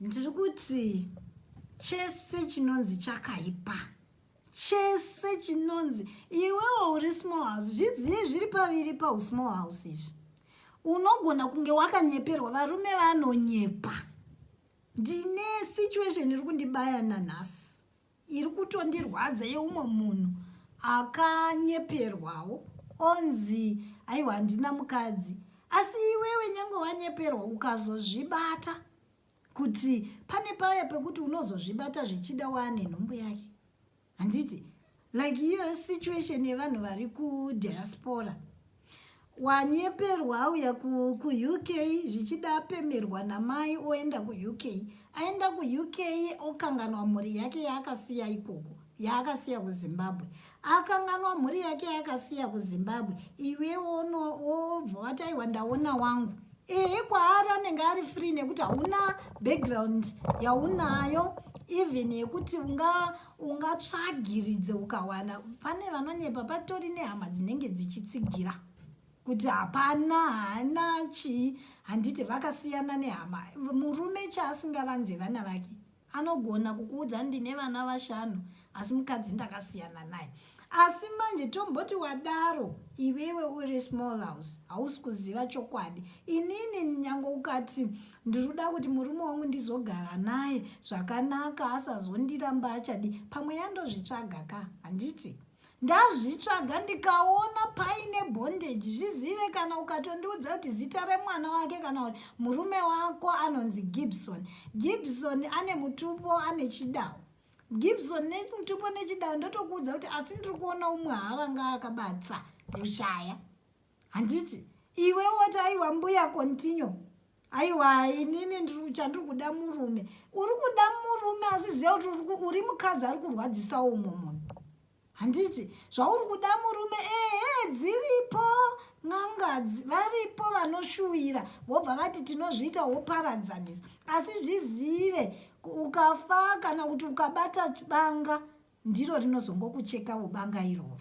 ndiri kuti chese chinonzi chakaipa chese chinonzi iwewo uri small house zvizivi zviri paviri pausmall house izvi unogona kunge wakanyeperwa varume vanonyepa ndine situation iri kundibaya nanhasi iri kutondirwadza yeumwe munhu akanyeperwawo onzi aiwa handina mukadzi asi iwewe nyange wanyeperwa ukazozvibata kuti pane paya pekuti unozozvibata zvichida waane nhumbu yake handiti like iyo situation yevanhu vari kudiaspora wanyeperwa auya kuuk zvichida apemerwa namai oenda kuuk aenda kuuk okanganwa mhuri yake yaakasiya ikoko yaakasiya kuzimbabwe akanganwa mhuri yake yaakasiya kuzimbabwe iwe wobva wati aiwa ndaona wangu ehe kwaari anenge ari free nekuti hauna background yaunayo even yekuti ungatsvagiridze unga ukawana pane vanonyepa patori nehama dzinenge dzichitsigira kuti hapana haana chii handiti vakasiyana nehama murume chaasingavanze vana vake anogona kukuudza ndine vana vashanu asi mukadzi ndakasiyana naye asi manje tomboti wadaro iwewe uri small house hausi kuziva chokwadi inini nyange ukati ndiri kuda kuti murume wangu ndizogara naye zvakanaka asazondiramba achadi pamwe yandozvitsvaga ka handiti ndazvitsvaga ndikaona paine bondage zvizive kana ukatondiudza kuti zita remwana wake kana kuti murume wako anonzi gibson gibson ane mutupo ane chidawo gibson nemutupo nechidawo ndotokuudza kuti asi ndiri kuona umwe haranga akabatsa rushaya handiti iwe woti aiwa mbuya continue aiwa inini chandiri kuda murume uri kuda murume asi ziva kuti uri mukadzi ari kurwadzisawo umwe munhu handiti zvauri kuda murume ehe dziripo n'angadzi varipo vanoshuvira vobva vati tinozviita woparadzanisa asi zvizive ukafa kana kuti ukabata banga ndiro rinozongokucheka ubanga iroro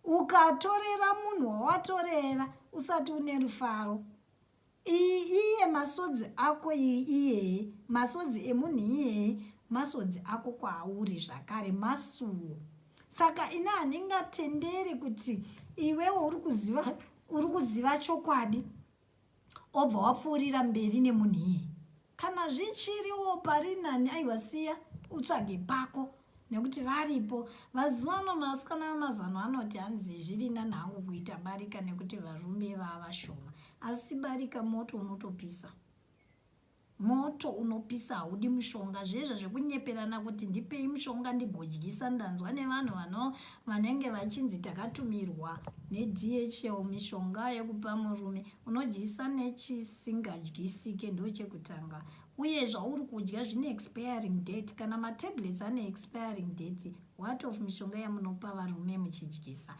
Ukatorera munhu wawatorera usati une rufaro. Iyi iye masodzi ako iyi iyeye masodzi emunhu iyeye masodzi ako kwauri zvakare masuwo. Saka ini handingatenderi kuti iwewo uri kuziva uri kuziva chokwadi obva wapfuurira mberi nemunhu iye kana zvichiriwo pari nani aiwa siya utsvage pako nekuti varipo vazivano masikana vemazano anoti hanzi zviri nani hangu kuita barika nekuti varume vavashoma asi barika moto unotopisa Moto unopisa haudi mushonga zviye zvekunyeperana kuti ndipei mushonga ndigodyisa ndanzwa nevanhu vano vanenge vachinzi takatumirwa neDHL mishonga yekupa murume unodyisa nechisingadyisike ndochekutanga uye zvauri kudya zvine expiring date kana matablets ane expiring date what of mishonga yamunopa varume muchidyisa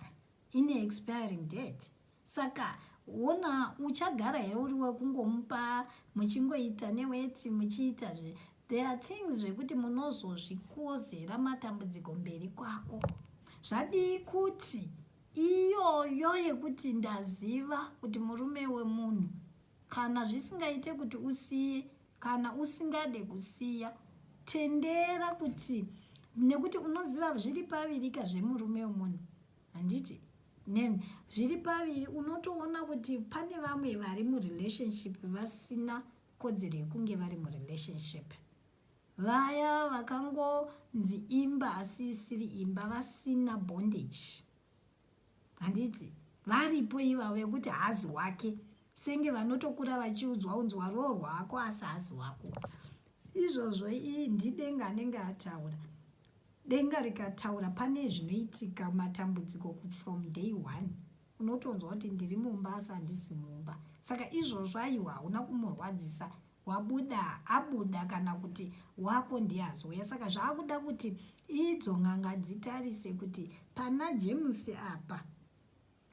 ine expiring date saka wona uchagara here uri wekungomupa muchingoita neweti muchiita zve there are things zvekuti munozozvikozera matambudziko mberi kwako zvadii kuti iyoyo yekuti ndaziva kuti murume wemunhu kana zvisingaite kuti usiye kana usingade kusiya tendera kuti nekuti unoziva zviri pavirika zvemurume wemunhu handiti then zviri paviri unotoona kuti pane vamwe vari murelationship vasina kodzero yekunge vari murelationship vaya vakangonzi imba asi isiri imba vasina bondage handiti varipo ivavo yekuti haazi wake senge vanotokura vachiudzwa unzi waruo rwako asi haazi wako izvozvo ii ndidenga anenge ataura Denga rikataura pane zvinoitika matambudziko ku from day one. Unotonzwa kuti ndiri mumba asi handisi mumba. Saka izvozvo aiwa hauna kumurwadzisa wabuda abuda kana kuti wako ndiye azouya. Saka zvaakuda kuti idzo n'anga dzitarise kuti pana James apa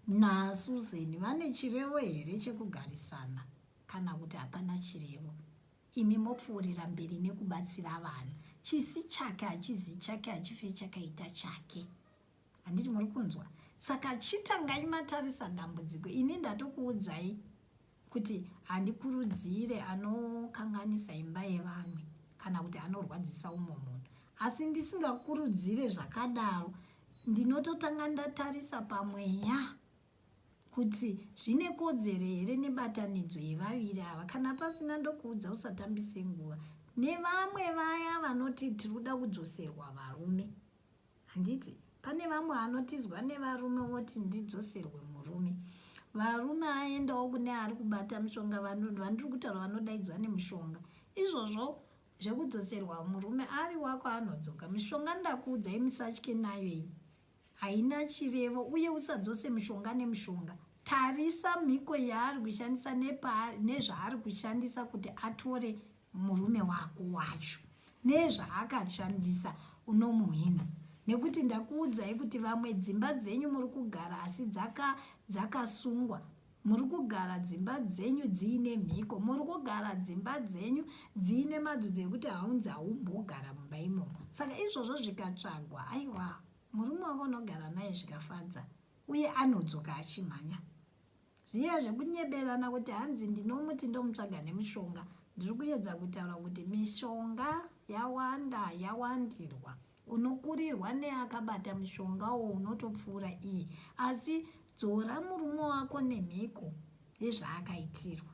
na Susan vane chirevo here chekugarisana kana kuti hapana chirevo. imi mopfuurira mberi nekubatsira vanhu chisi chake hachizi chake hachife chakaita chake handiti muri kunzwa saka chitangai matarisa dambudziko ini ndatokuudzai kuti handikurudzire anokanganisa imba yevanhu kana kuti anorwadzisa umwe munhu asi ndisingakurudzire zvakadaro ndinototanga ndatarisa pamweya kuti zvine kodzero here nebatanidzo yevaviri ava kana pasina ndokuudza usatambise nguva nevamwe vaya vanoti tiri kuda kudzoserwa varume handiti pane vamwe vanotizwa nevarume voti ndidzoserwe murume varume aendawo kune ari kubata mushonga vandiri kutaura vanodaidzwa nemushonga izvozvo zvekudzoserwa murume ari wako anodzoka mishonga ndakuudzai musatye nayo iyi Haina chirevo uye usadzose mushonga nemushonga. Tarisa mhiko yaari kushandisa nezvaari kushandisa kuti atore murume wako wacho. Nezvaakashandisa unomuhwina. Nekuti ndakuudzai kuti vamwe dzimba dzenyu muri kugara asi dzakasungwa Muri kugara dzimba dzenyu dziine mhiko. Muri kugara dzimba dzenyu dziine madzudzo ekuti haunzi haumbogara mumba imomo. Saka izvozvo zvikatsvagwa, aiwa, murume wako unogara naye zvikafadza, uye anodzoka achimhanya. Zviya zvekunyeberana kuti hanzi ndinomuti ndomutsvaga nemushonga, ndiri kuyedza kutaura kuti mishonga yawanda, yawandirwa. Unokurirwa neakabata mushonga uwo unotopfuura iye. Asi dzora murume wako nemhiko yezvaakaitirwa.